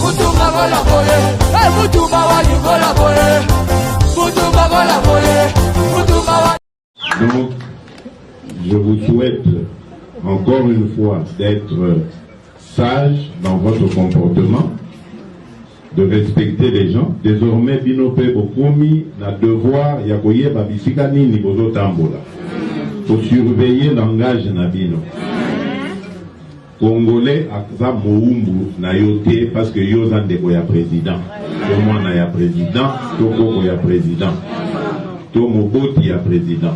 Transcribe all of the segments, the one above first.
mutumba bola boye hey, mutumba wa yugola boye mutumba bola boye mutumba wa donc je vous souhaite encore une fois d'être sage dans votre comportement de respecter les gens désormais bino mpe bokomi na devoir ya koyeba bisika nini bozotambola kosurveille langage na bino Congolais aza mowumbu na yo te parce que yo oza ndeko ya president to mwana ya president to koko ya president to moboti ya president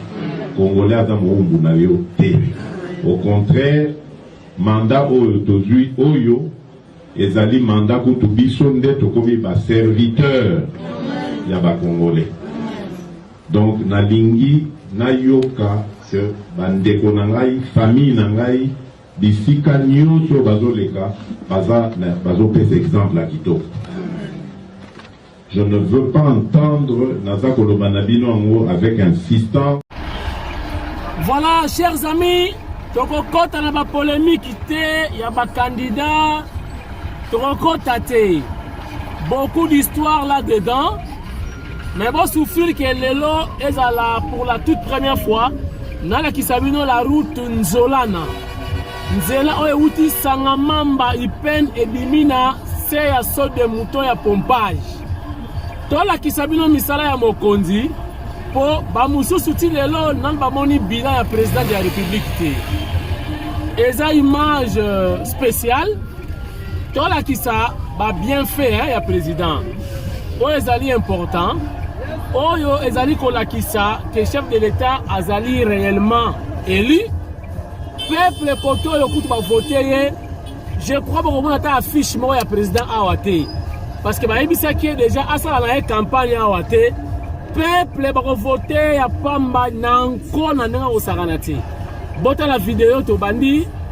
congolais aza mowumbu na yo te au contraire mandat oyo tozwi oyo ezali mandat kutu biso nde tokomi ba serviteur ya ba congolais donc nalingi nayoka que bandeko na ngai famille na ngai Bisika nionso oyo bazo leka baza bazo pesa exemple ya kitoko. Je ne veux pas entendre naza koloba na bino yango avec insistance. Voilà, chers amis, tokokota na ba polemique te ya ba candidats, tokokota te. Beaucoup d'histoire là-dedans. Mais bo souffrir que lelo ezala pour la toute première fois nalakisa bino la route Nzolana nzela oyo euti sanga mamba ipen ebimi na se ya saut de mouton ya pompage tolakisa bino misala ya mokonzi mpo bamosusu ti lelo nanu bamoni bilan ya président de la république te eza image euh, spéciale tolakisa ba bienfait hein, ya président oyo ezali important oyo ezali kolakisa que chef de l'état azali réellement élu peuple kote oyo kutu bavote ye je crois bokomona ata affiche moko ya président awa te parce que bayebisaki ye déjà asala na ye campagne awa te peuple bakovote ya pamba na nko na ndenge akosakana te botala video tobandi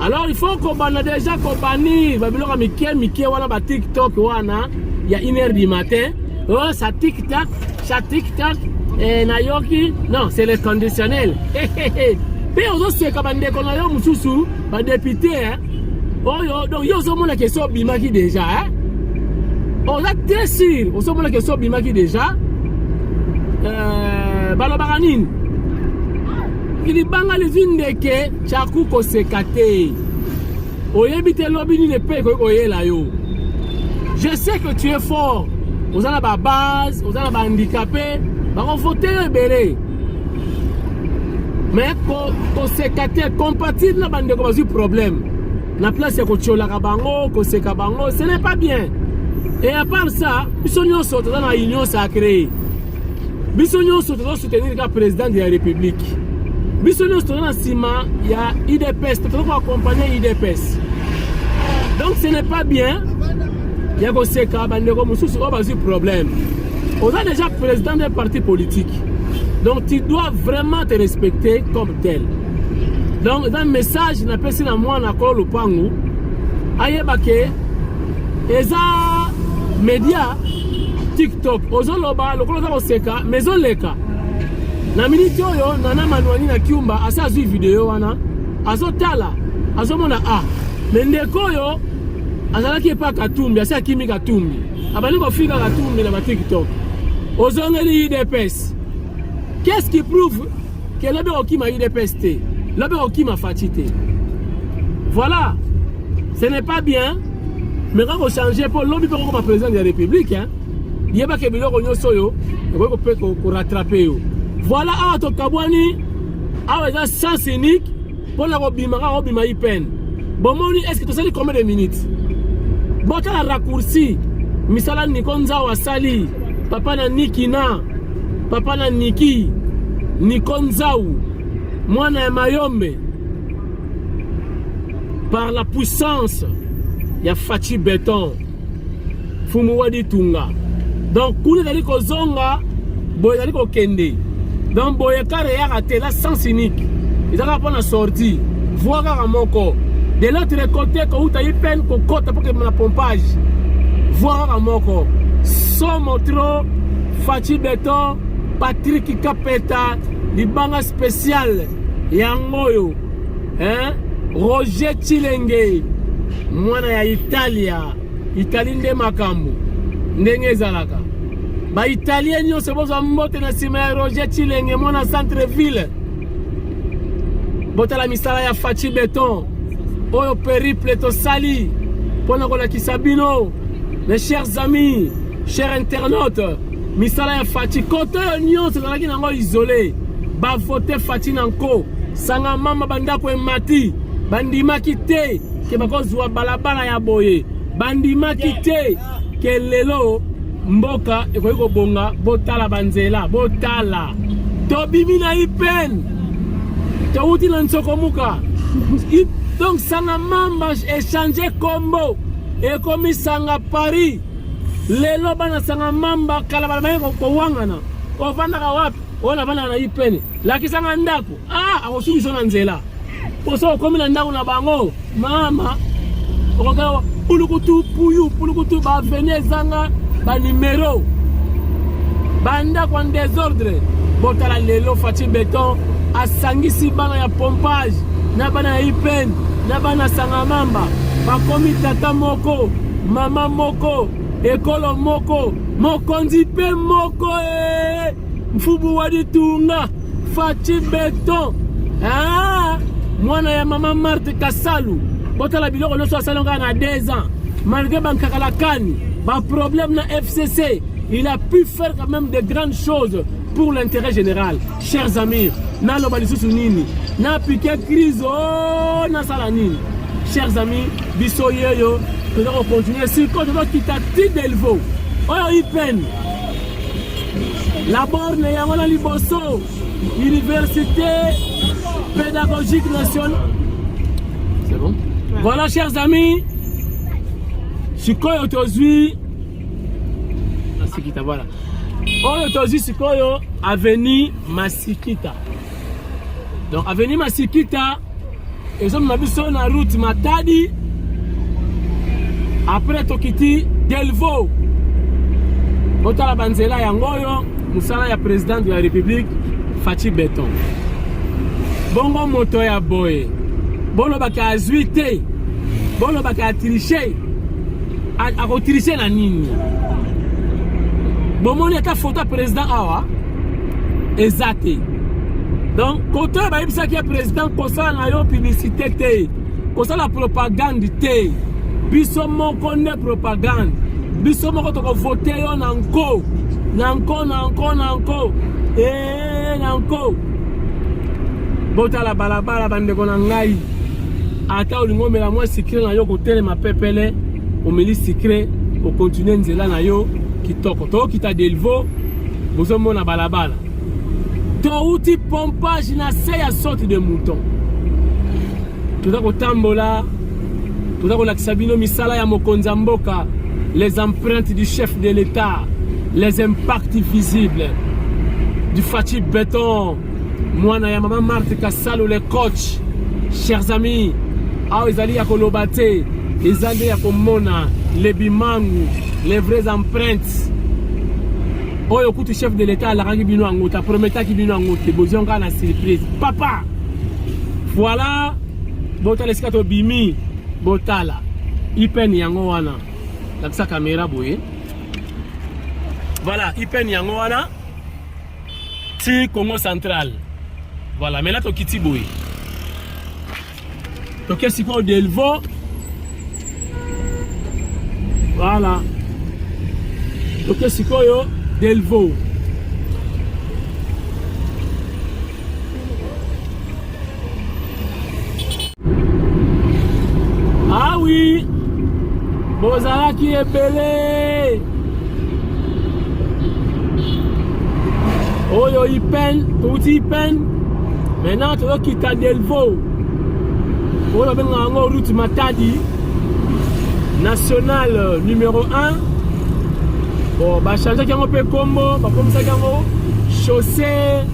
alors il faut kobanda déjà kobanir babiloko ya mike mike wana ba tiktok wana ya une heure du matin oh sa tiktak sa tiktak eh, nayoki non c'est le conditionnel mpe ozoseka bandeko na yo mosusu badepute eh? oyo donc yo ozomona kesi obimaki déjà eh? oza très sûr ozomona kesi obimaki déjà euh, balobaka nini Libanga lizwi ndeke chaku koseka te oyebi te lobi nini epe ekoki koyela yo je sais que tu es fort oza na babase oza na bahandikape bakovote yo ebele me koseka te compatire na bandeko bazwi problème na place ya kotiolaka bango koseka bango ce n'est pas bien et à part ça biso nyonso toza na union sacrée biso nyonso tozo soutenir ka président de la république biso nyonso toza na nsima ya udps mpe toza koakompagne udps donc ce n'est pas bien ya koseka bandeko mosusu oyo bazwi problème oza déjà président d'un parti politique donc tu dois vraiment te respecter comme tel donc eza message napesi na mwana akolo lopangu ayeba ke eza media Top, ozoloba lokola oza koseka mais ezoleka na miniti oyo nana manuani na kiumba asi azwi video wana azotala azomona a ah, me ndeko oyo azalaki epa katumbi asi akimi katumbi abandi kofika katumbi na batiktok ozongeli udps qu'est ce qui prouve Ke lobi okima UDPS te. Lobi okima Fatshi te. Voilà. Ce n'est pas bien. Mais quand on change pour lobi pour comme président de la République hein. Yeba ke biloko nyoso yo, ko pe ko rattraper yo. Voilà awa to kabwani awa eza sens unique pona kobima kaka obima ipene bomoni eske tosali combien de minutes botala raccourci misala niko nzao asali papa na niki na papa na niki niko nzau mwana ya mayombe par la puissance ya faci beton Fumu wa ditunga. Donc kuna ezali kozonga boye ezali kokende. Donc boye kare yaka te la sens unique. Ezalaka mpo na sortie. Voie kaka moko. De l'autre côté kouta ye peine kokota mpo kemela pompage. Voie kaka moko. Somo trop Fachi Beton Patrick Kapeta libanga spécial yango oyo hein? Roger Chilenge mwana ya Italia Italie nde makambo ndenge ezalaka baitalien nyonso bozwa mbote na nsima ya roger chilenge mwana centre ville botala misala ya faci beton oyo periple tosali mpo na kolakisa bino mes chers amis chers internautes Misala ya Fatshi kote oyo nyonso ezalaki nango isole, bavote Fatshi na nko sanga mama, bandako emati, bandimaki te ke bakozwa balabala ya boye, bandimaki te ke lelo mboka ekoki kobonga. Botala banzela, botala tobimi na ipen, towuti na nsokomuka donc sanga mama echange kombo ekomi sanga Paris. lelo bana sanga mamba kala balobaki kowangana ofandaka wapi oyo nafandaka na ipene lakisanga ndako a akosukisa na nzela poso okomi na ndako na bango mama okokaa pulukutu puyu pulukutu baaveni ezanga banimero bandako ya desordre botala lelo faci beton asangisi bana ya pompage na bana ya ipene na bana sangamamba bakomi tata moko Mama moko, ekolo moko, mokonzi pe moko eh! Mfubu wa ditunga, Fatshi Beton. Ah! Mwana ya mama Marthe Kasalu. Botala biloko nyonso asali ngai na 2 ans. Malgré bankakalakani, ba problème na FCC, il a pu faire quand même de grandes choses pour l'intérêt général. Cher Zamir, naloba lisusu nini? Na piquer crise oh, nasala nini? Chers amis, biso yeyo toza ko continuer siko toza kita ti Delvaux. Oyo IPN. La borne yango na liboso Université pédagogique nationale. C'est bon? Voilà chers amis. Sikoyo tozwi masikita voilà oyo tozwi sikoyo avenue masikita donc avenue masikita ezomema biso na route matadi après tokiti delvo otala banzela yango oyo mosala ya président de la république faci beton bongo moto ya boye bolobaka azwi te bolobaka atriche akotriche na nini bomoni ata foto ya président awa eza te donc kote oyo bayebisaki ya président kosala na yo publicité te kosala propagande te biso moko nde propagande biso moko tokovote yo na nko na nko na nko na nko e eh, na nko botala balabala bandeko na ngai ata olingi omela mwa sikre na yo kotelema pepele omeli sikre okontinue nzela na yo kitoko tokita delvo bozomona balabala touti pompage na se ya sorte de mouton toza kotambola toza kolakisa bino misala ya mokonzi ya mboka les empreintes du chef de l'État, les impacts visibles du Fatih Béton, Mwana ya Maman Marthe Kassalo, les coachs. Chers amis, awa ezali ya koloba te, eza nde ya komona les bimangu, les vraies empreintes. oyo kutu chef de l'état alakaki bino yango te aprometaki bino yango te bozwi yango kaka na surprise papa voilà botala esika tobimi botala ipene yango wana lakisa kamera boye voilà ipene yango wana ti congo central voilà mena tokiti boye toke sikoyo delvo voilà toke sikoyo delvo awi ah bozalaki ebele oyo ipen touti ipen maintenant toyokita delvo oyo babengaka yango route matadi national numero 1 bon bachangeaki yango mpe nkombo bakomisaki yango chaussée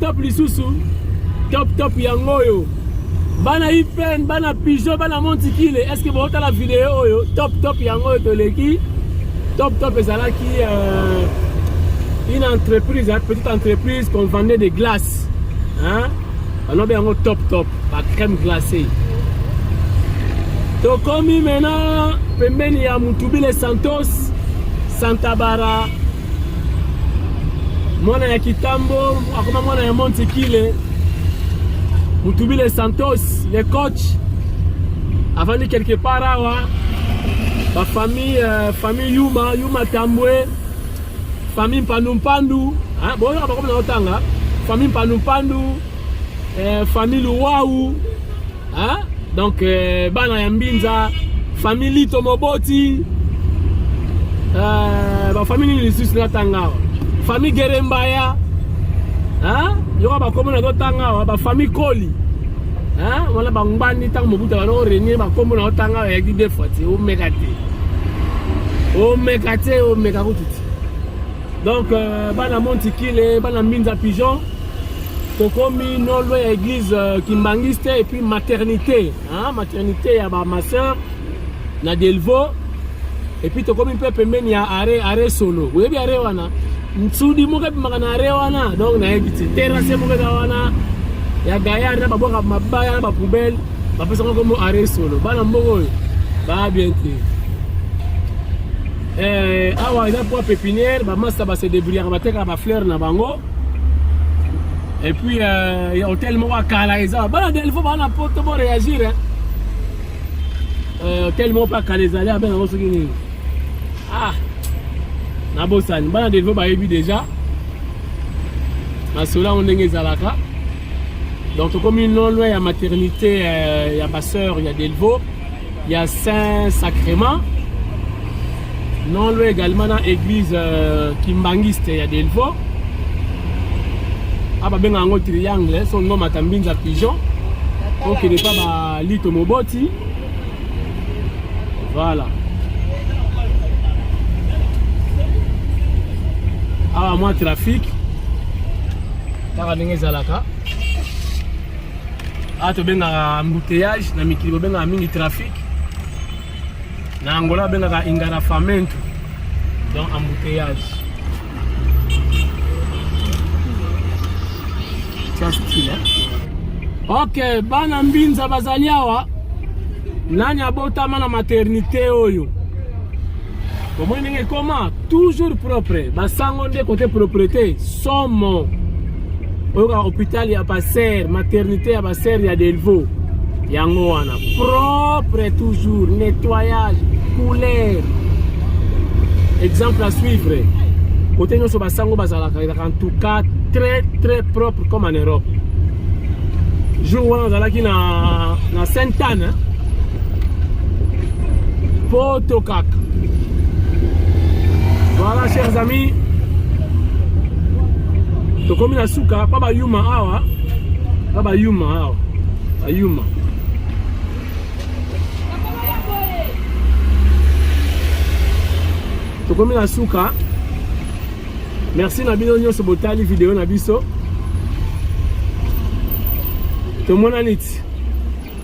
Top lisusu top top yango oyo bana ipen bana pigeon bana montikile est ce que botala video oyo top top yango oyo toleki top top ezalaki euh, une entreprise hein, petite entreprise qu'on vendait des glaces hein balobi yango top top ba crème glacée tokomi maintenant pembeni ya mutubile santos santabara mwana ya kitambo akoma mwana ya montikile mutubile santos le coach avandi quelque part awa bafamille euh, famille yuma yuma tambwe famille mpandumpandu boyoka bakomi na otanga famille mpandumpandu eh, famille luwau hein? donc eh, bana ya mbinza famille lito moboti eh, bafamille nini lisusu natanga awa famille gerembaya hein? yoka bakombo na totanga awa bafamille koli hein? wana bangbani ntango mobuta bana orenie bakombo na otanga awa yaki de fois te omeka te omeka te omeka kutu te donc euh, bana montikile bana mbinza pigeon tokomi no loin ya église euh, kimbanguiste et puis maternité hein? maternité ya ba ma sœur na delvo et puis tokomi mpe pembeni ya are are solo oyebi are wana nsudi moko ebimaka na are wana donc nayebi te terrasse moko eza wana ya gayar na babwaka mabaya na bapoubele bapesaka kombo are solo bana mbongo oyo baa bien te eh, awa eza mpo pepinière bamasta base debrouillaka batekaka bafleur na bango Et puis, euh, ya hotel moko ya kala eza bana delfo bana poto bo réagir hein. Euh, hotel moko mpe ya kala ezali abe nango soki nini ah nabosani bana delfo bayebi déjà masolo yango ndenge ezalaka donc tokomi non loin ya maternité euh, ya basœur ya delvaux ya saint sacrement non loin également na église euh, kimbangiste ya delvaux a ah, babenga yango triangle so nomata mbinza pigeon okende mpa balito moboti voilà awa ah, mwa trafic kaka ndenge ezalaka awa tobengaka embouteillage na mikili bobengaka mingi trafic na angola babengaka ingarafamento donc embouteillage ok bana mbinza bazali awa nani abotama na maternité oyo omoni ndenge ekoma toujours propre basango nde kote propreté somo oyoka hôpital ya baser maternité ya baser ya delvaux yango wana propre toujours nettoyage couleur exemple à suivre kote nyonso basango bazalaka ezalaka en tout cas très très propre comme en europe jour wana nazalaki na, na sainte anne poto kaka voilà chers amis tokomi na suka pa bayuma awa pa bayuma awa bayuma tokomi na suka merci na bino nyonso botali video na biso tomonani ti